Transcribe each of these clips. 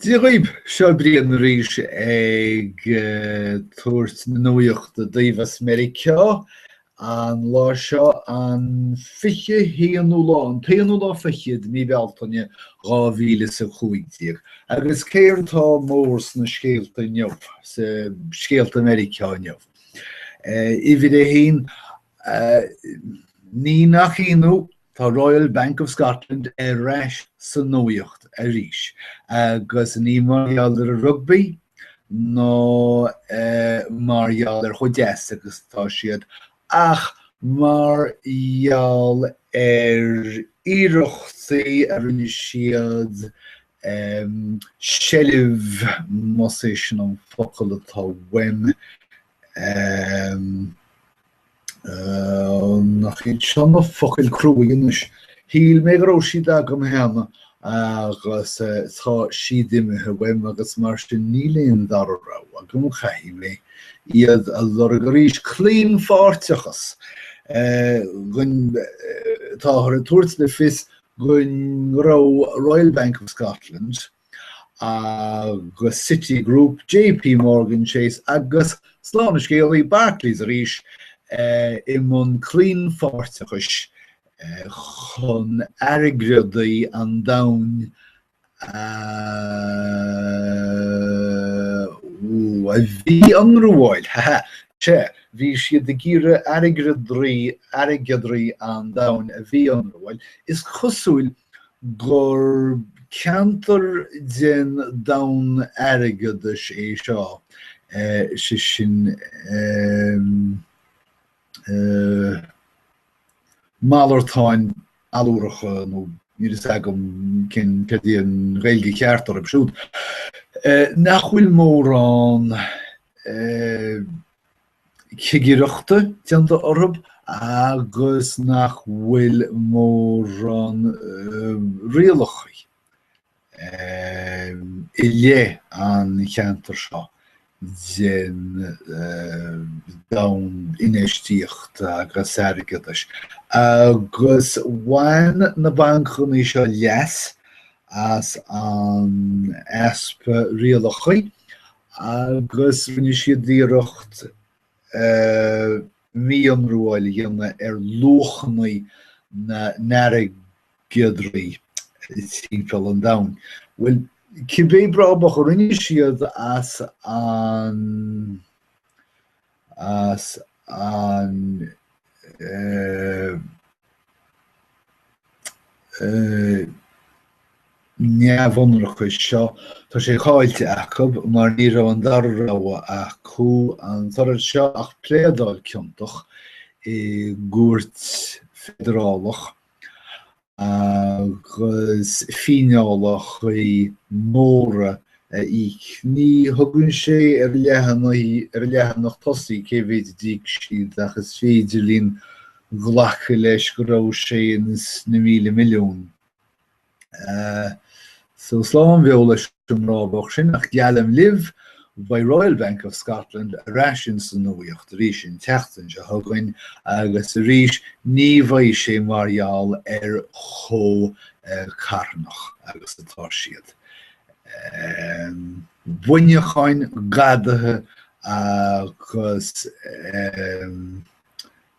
Dia dhaoib, seo Brian arís ag tabhairt na nuaíochta daoibh as Meiriceá. An lá seo an 21 ú lá, an t-aon ú lá fiche de mhí Bealtaine 2015. Agus céard atá mór sna scéalta inniu, sa scéalta Meiriceá inniu? Uimhir a haon, ní nach ionadh, Tá Royal Bank of Scotland ar ais sa nuaíocht arís, agus ní mar gheall ar an rugbaí nó mar gheall ar chomh deas agus atá siad, ach mar gheall ar iarrachtaí a rinne siad seilbh, más é sin an focal atá uaim, Ahem. Nach iad seo na focail cruaidh anois. Shíl mé go raibh siad agam cheana agus tá siad imithe uaim agus mar sin níl aon dara rogha agam, caithfidh mé iad a lorg arís. Claonpháirteachas. Táthar ag tabhairt le fios go raibh Royal Bank of Scotland, agus Citigroup, JP Morgan Chase agus slán an scéalaí, Barclays arís i mbun claonpháirteachais chun airgeadraí an domhain a mhí-ionramháil, ha ha, sea, bhí siad ag iarraidh airgeadraí an domhain a mhí-ionramháil, is cosúil gur ceantar den domhan airgeadais é seo, sé sin malartáin allúracha nó níl fhios agam céard í an Ghaeilge cheart orthu siúd, nach bhfuil mórán cigireachta déanta orthu agus nach bhfuil mórán rialachaí i leith an cheantair seo den domhan infheistíochta agus airgeadais. Agus bhain na bancannaí seo leas as an easpa rialachaí agus rinne siad iarracht mí-ionramháil a dhéanamh ar luachannaí na n-airgeadraí timpeall an domhain. Bhuel, cibé brabach a rinne siad as an as an neamhionracas seo, tá sé caillte acab mar ní raibh an dara rogha acu an toradh seo ach pléadáil ciontach i gcúirt feidearálach agus fíneálachaí móra a íoc. Ní thugann sé ar leathanach tosaigh cé mhéid d'íoc siad ach is féidir linn glacadh leis go raibh sé ins na míle milliún. So slán beo leis an rábach sin, ach geallaim libh, beidh Royal Bank of Scotland ar ais insan nuaíocht arís an tseachtain seo chugainn agus arís ní bheidh sé mar gheall ar chomh carthanach agus atá siad. Buinneacháin, gadaithe agus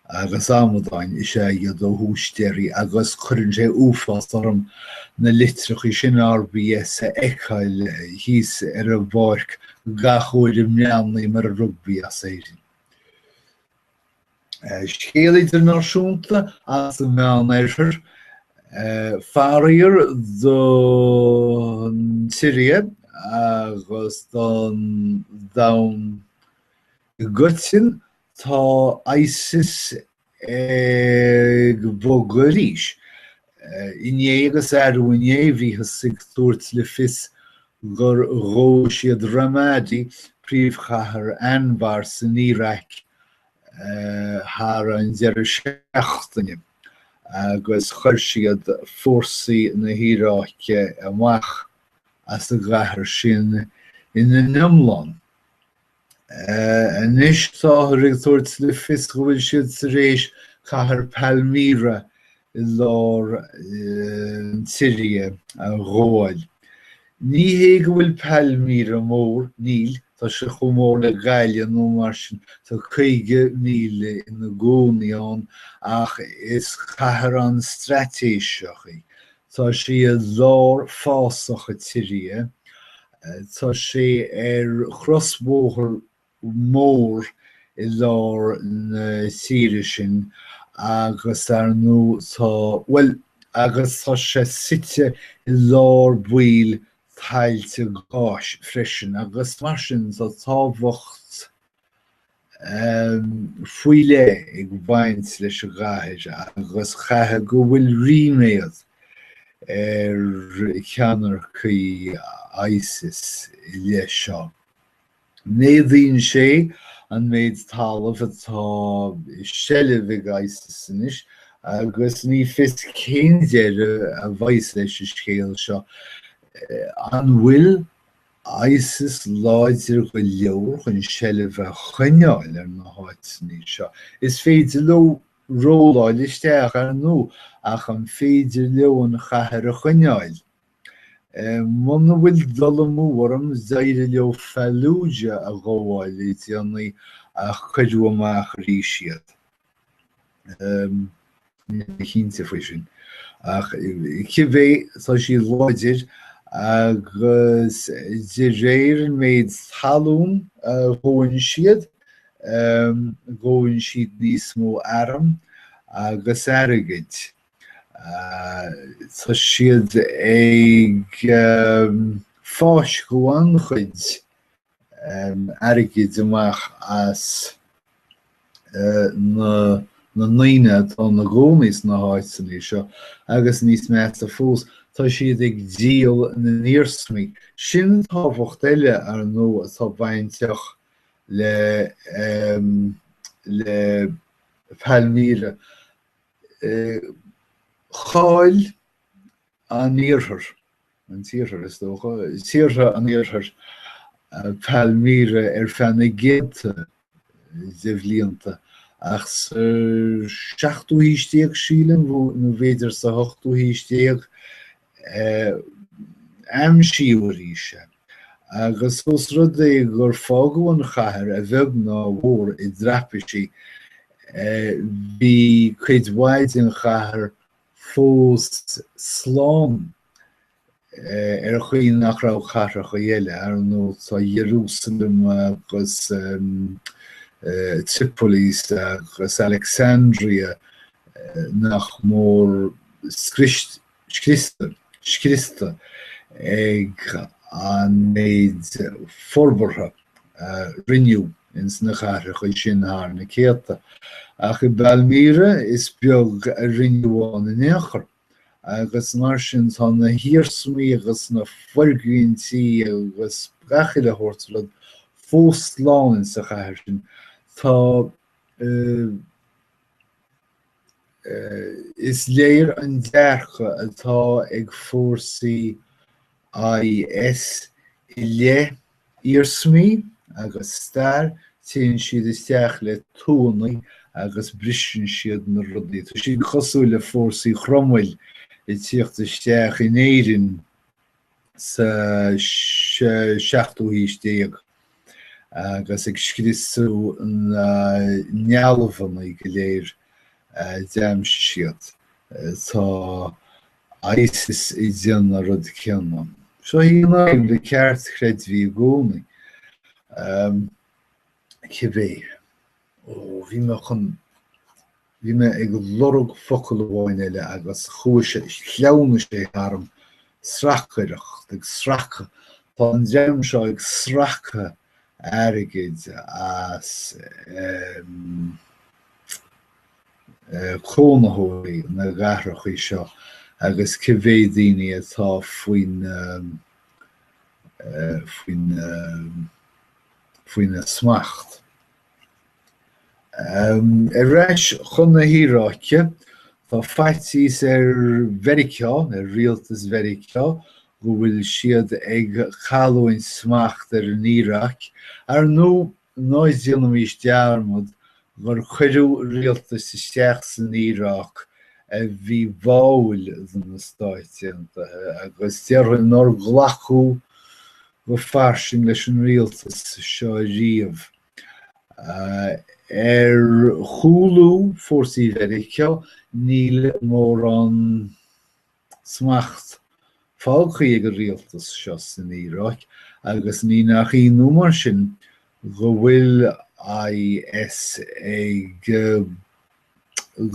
agus amadáin is ea iad ó thús deireadh agus cuireann sé uafás orm na litreachaí sin RBS a fheiceáil thíos ar an bpáirc gach uair a mbreathnaím ar an rugbaí as Éirinn. Scéal idirnáisiúnta as an Meánoirthear, faraor don tSiria agus don domhan i gcoitinne, tá ISIS ag bogadh arís. Inné agus arú inné, bhíothas ag tabhairt le fios gur ghabh siad Ramadi, príomhchathair Anbar san Iaráic, thar an deireadh seachtaine agus chuir siad fórsaí na hIaráice amach as an gcathair sin ina n-iomlán. Anois táthar ag tabhairt le fios go bhfuil siad tar éis cathair Palmyra i lár na Siria a ghabháil. Ní hé go bhfuil Palmyra mór, níl, tá sé chomh mór le Gaillimh nó mar sin, tá 50,000 ina gcónaí ann, ach is cathair an-straitéiseach í. Tá sí i lár fásach an tSiria Tá sé ar chrosbhóthar mór i lár na tíre sin agus, ar ndóigh, tá, bhuel, agus tá sé suite i lár bhuel tailte gáis freisin agus mar sin tá tábhacht, faoi leith ag baint leis an gcathair agus chaithfeadh go bhfuil ríméad ar cheannaircigh ISIS i leith seo. Méadaíonn sé an méid talaimh atá i seilbh ag ISIS anois agus ní fios cén deireadh a bheidh leis an scéal seo. An bhfuil? ISIS láidir go leor chun seilbh a choinneáil ar na háiteanna seo. Is féidir leo rolláil isteach, ar ndú, ach an féidir leo an chathair a choinneáil? Muna bhfuil dul amú orm, d'éirigh leo Fallujah a ghabháil le déanaí ach cuireadh amach arís iad. chinnte faoi sin. Ach cibé tá siad láidir agus de réir an méid talún a ghabhann siad, gabhann siad níos mó airm agus airgid. Tá siad ag fáisceadh an-chuid airgid amach as na ndaoine atá ina gcónaí sna háiteanna seo agus, níos measa fós, tá siad ag díol na n-iarsmaí. Sin tábhacht eile, ar ndóigh, atá bainteach le Palmyra. Chaill. an Iarthair, an tIarthar, is dócha, tíortha an Iarthair, Palmyra ar feadh na gcéanta de bhlianta, ach sa seachtú haois déag, sílim, nó b'fhéidir sa hochtú haois déag, aimsíodh arís é, agus ós rud é gur fágadh an chathair, a bheag nó a mhór, i dtraipisí, bhí cuid mhaith den chathair fós slán. Ar an chaoi nach raibh cathracha eile, ar ndóigh, tá Iarúsailéim agus Tripolis agus Alexandria, nach mór scriosta ag an méid forbartha a rinneadh. ins na cathracha sin thar na céadta, ach i bPalmyra is beag a rinneadh ann in aon chor, agus mar sin tá na hiarsmaí agus na foirgintí agus gach uile shórt rud fós slán insa chathair sin. Tá. Is léir an dearcadh atá ag fórsaí IS i leith iarsmaí agus stair, téann siad isteach le tuanna agus briseann siad na rudaí. Tá siad cosúil le fórsaí Chromaill ag tíocht isteach in Éirinn. sa seachtú haois déag agus ag scriosadh na ndealbhanna go léir a d'aimsigh siad. Tá ISIS ag déanamh an rud céanna. Seo a bhíonn le ceartchreidmhigh i gcónaí. cibé. Ó, bhí mé chun. bhí mé ag lorg focal amháin eile agus chuaigh sé, shleamhnaigh sé tharam, sracaireacht, ag sracadh, tá an dream seo ag sracadh airgid as cónaitheoirí na gcathracha seo agus cibé daoine atá faoin, faoin. faoina smacht. Ar ais chun na hIaráice, tá faitíos ar Mheiriceá, ar rialtas Mheiriceá, go bhfuil siad ag cailliúint smacht ar an Iaráic, ar ndóigh ná déanaimís dearmad gur cuireadh rialtas isteach san Iaráic a bhí báúil do na Stáit Aontaithe agus déarfainn nár glacadh go fairsing leis an Rialtas seo riamh. Ar chúlú fórsaí Mheiriceá níl mórán smacht fágthaí ag an Rialtas seo san Iaráic agus ní nach ionadh mar sin go bhfuil IS ag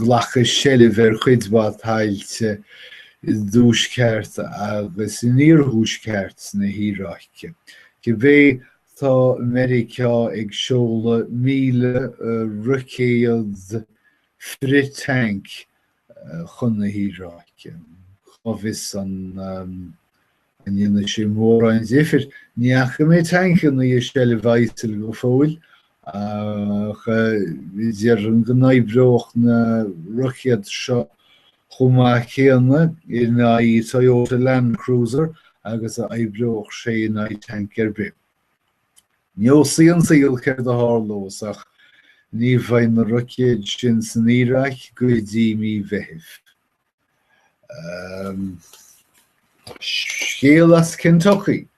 glacadh seilbh ar chuid mhaith tailte i dTuaisceart agus in Iarthuaisceart na hIaráice. Cibé, tá Meiriceá ag seoladh 1,000 roicéad frith-thanc chun na hIaráice. Cá bhfios an An ndéanfaidh sé mórán difir? Ní fhaca mé tancannaí i seilbh ISIL go fóill, ach déarfainn go n-oibreodh na roicéid seo chomh maith céanna in aghaidh Toyota Landcruser agus a oibreodh sé in aghaidh tanc ar bith. Neosfaidh an saol céard a tharlós, ach ní bheidh na roicéid sin san Iaráic go dtí mí Mheithimh. Scéal as Kentucky.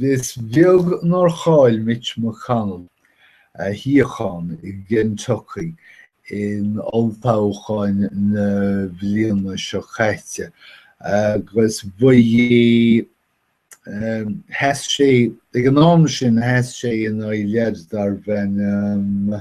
Is beag nár chaill Mitch McConnell a shuíochán i gKentucky in olltoghchán na bliana seo caite agus ba, sheas sé ag an am sin sheas sé in aghaidh leaid darb ainm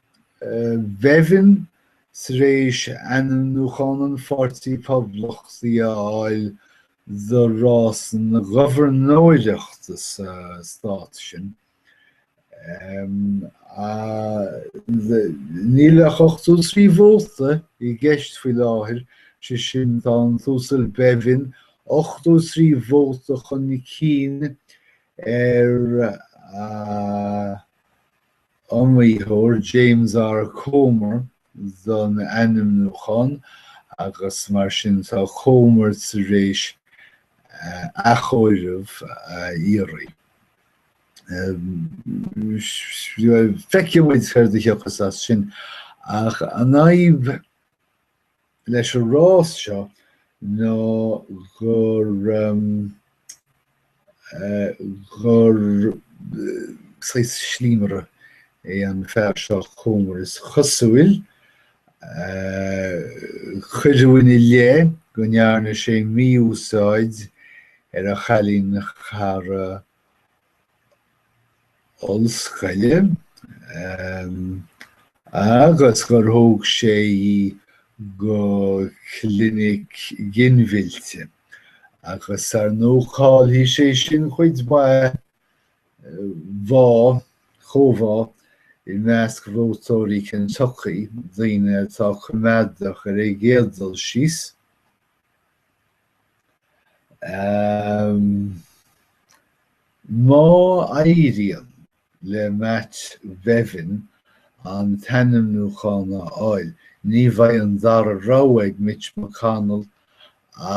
Bevin, tar éis ainmniúchán an Pháirtí Phoblachtaigh a fháil do rás na gobharnóireachta sa stát sin, níl ach ochtó trí vóta i gceist faoi láthair, sé sin tá an tUasal Bevin ochtó trí vóta chun cinn ar a iomaitheoir James R. Comer don ainmniúchán agus mar sin tá Comer tar éis athchomhaireamh a iarraidh. Feicfidh muid céard a thiocfas as sin ach an fhadhb leis an rás seo ná gur, gur saghas slíomaire é an fear seo Comer, is cosúil. Cuireadh ina leith go ndearna sé mí-úsáid ar a chailín cara, ollscoile agus gur thóg sé í go clinic ginmhillte agus ar ndóigh caillfidh sé sin cuid mhaith bá, chomhbhá, i measc vótóirí Kentucky, daoine atá coimeádach ar an gcéad dul síos. Má éiríonn le Matt Bevin an t-ainmniúchán a fháil, ní bheidh an dara rogha ag Mitch McConnell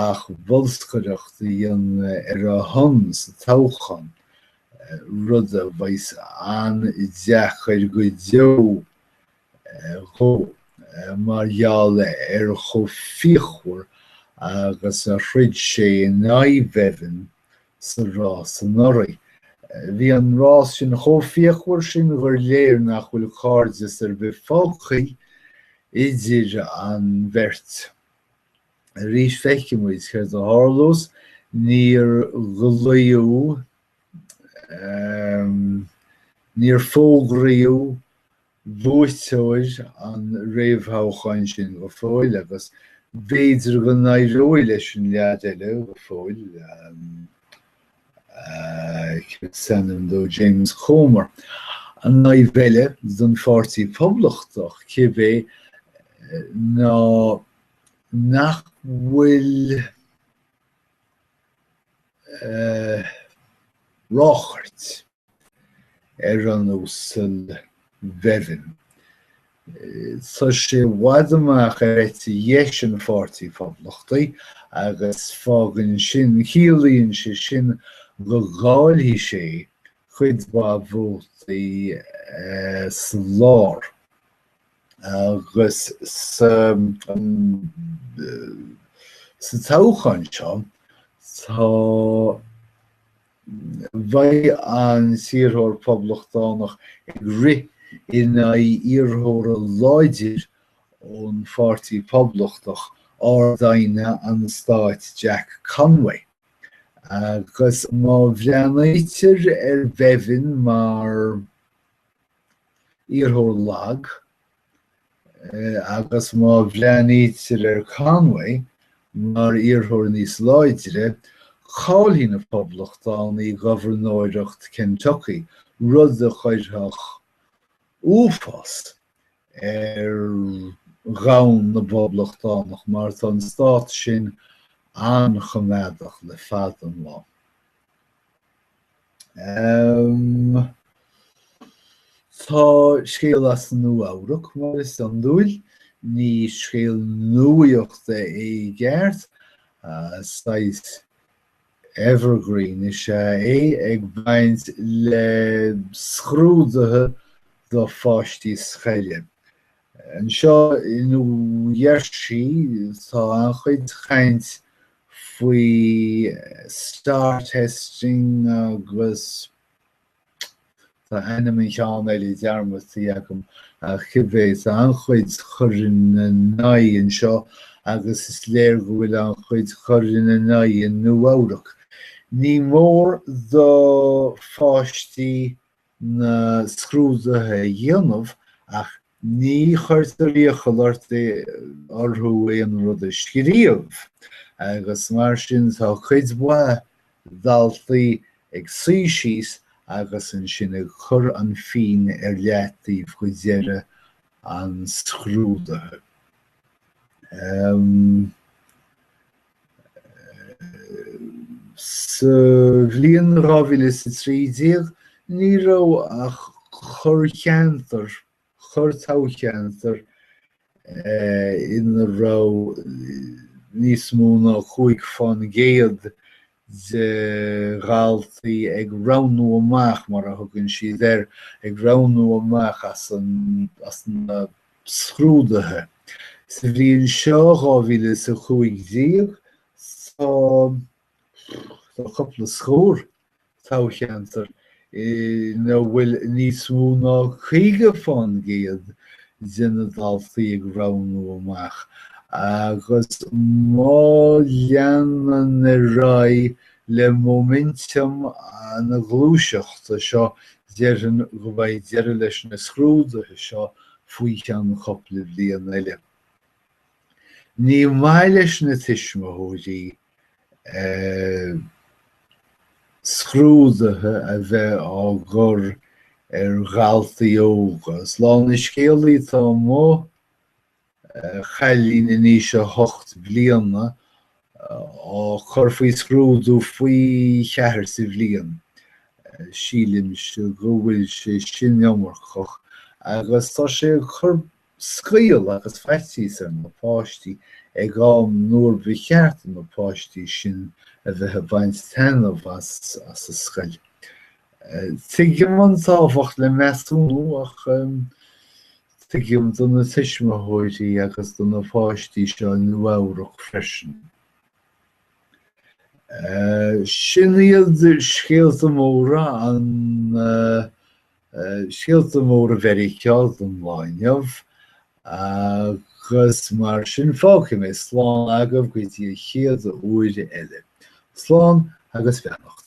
ach bolscaireacht a dhéanamh ar a shon sa toghchán, rud a bheas an-deacair go deo. dhó, mar gheall ar chomh fíochmhar agus a throid sé in aghaidh Bevin sa rás anuraidh. Bhí an rás sin chomh fíochmhar sin gur léir nach bhfuil cairdeas ar bith fágtha idir an bheirt. Arís feicfidh muid céard a tharlós, níor glaodh, níor fógraíodh buaiteoir an réamhthoghcháin sin go fóill agus b'fhéidir go n-éireoidh leis an leaid eile go fóill, cad is ainm dó, James Comer, an fhadhb eile don Pháirtí Poblachtach, cibé, ná nach bhfuil ráchairt. ar an Uasal Bevin. Tá sé i bhfad amach ar eite dheis an Pháirtí Phoblachtaigh agus fágann sin, ciallaíonn sé sin go gcaillfidh sé cuid mhaith vótaí sa lár agus sa toghchán seo tá beidh an t-iarrthóir Poblachtánach ag rith in aghaidh iarrthóir láidir ón Pháirtí Poblachtach, Ard-Aighne an Stáit Jack Conway, agus má bhreathnaítear ar Bhevin mar iarrthóir lag, agus má bhreathnaítear ar Conway mar iarrthóir níos láidre, caillfidh na Poblachtánaigh gobharnóireacht Kentucky, rud a chuirfeadh uafás ar dhomhan na bPoblachtánach, mar tá an stát sin an-choimeádach le fada an lá. Tá scéal as Nua-Eabhrac, mar is iondúil. Ní scéal nuaíochta é i gceart. Saghas evergreen is ea é, ag baint le scrúduithe do pháistí scoile. Anseo i New Jersey tá an-chuid caint faoi star testing agus tá ainm an cheann eile dearmadtaí agam ach cibé tá an-chuid cur ina n-aghaidh anseo agus is léir go bhfuil an-chuid cur ina n-aghaidh i Nua-Eabhrac. Ní mór do pháistí na scrúduithe a dhéanamh ach ní chuirtear iachall orthu aon rud a scríobh agus mar sin tá cuid mhaith daltaí ag suí síos agus ansin ag cur an phinn ar leataobh go deireadh an scrúdaithe. Sa bhliain 2013, ní raibh ach corrcheantar, corr-toghcheantar, ina raibh níos mó ná 5% de dhaltaí ag roghnú amach, mar a thugann siad air, ag roghnú amach as na scrúduithe. Sa bhliain seo, 2015, tá cúpla scór toghcheantar ina bhfuil níos mó ná 50 fán gcéad de na daltaí ag roghnú amach agus má leanann ar aghaidh le móiminteam na gluaiseachta seo déarfainn go mbeidh deireadh leis na scrúduithe seo faoi cheann cupla bliain eile. Ní maith leis na tuismitheoirí scrúduithe a bheith á gcur ar dhaltaí óga. Is a lán de na scéalta atá amuigh. cailín in aois a hocht bliana á cur faoi scrúdú faoi cheathair sa bhliain. Sílimse go bhfuil sé sin iomarcach agus tá sé ag cur scaoll agus faitíos ar na páistí ag am nuair ba cheart do na páistí sin a bheith ag baint taitneamh as an scoil. Tuigim an tábhacht le measúnú ach Tuigim do na tuismitheoirí agus do na páistí seo i Nua-Eabhrac freisin. Sin iad scéalta móra an scéalta móra Mheiriceá don lá inniu agus mar sin fágfaidh mé slán agaibh go dtí an chéad uair eile. Slán agus beannacht.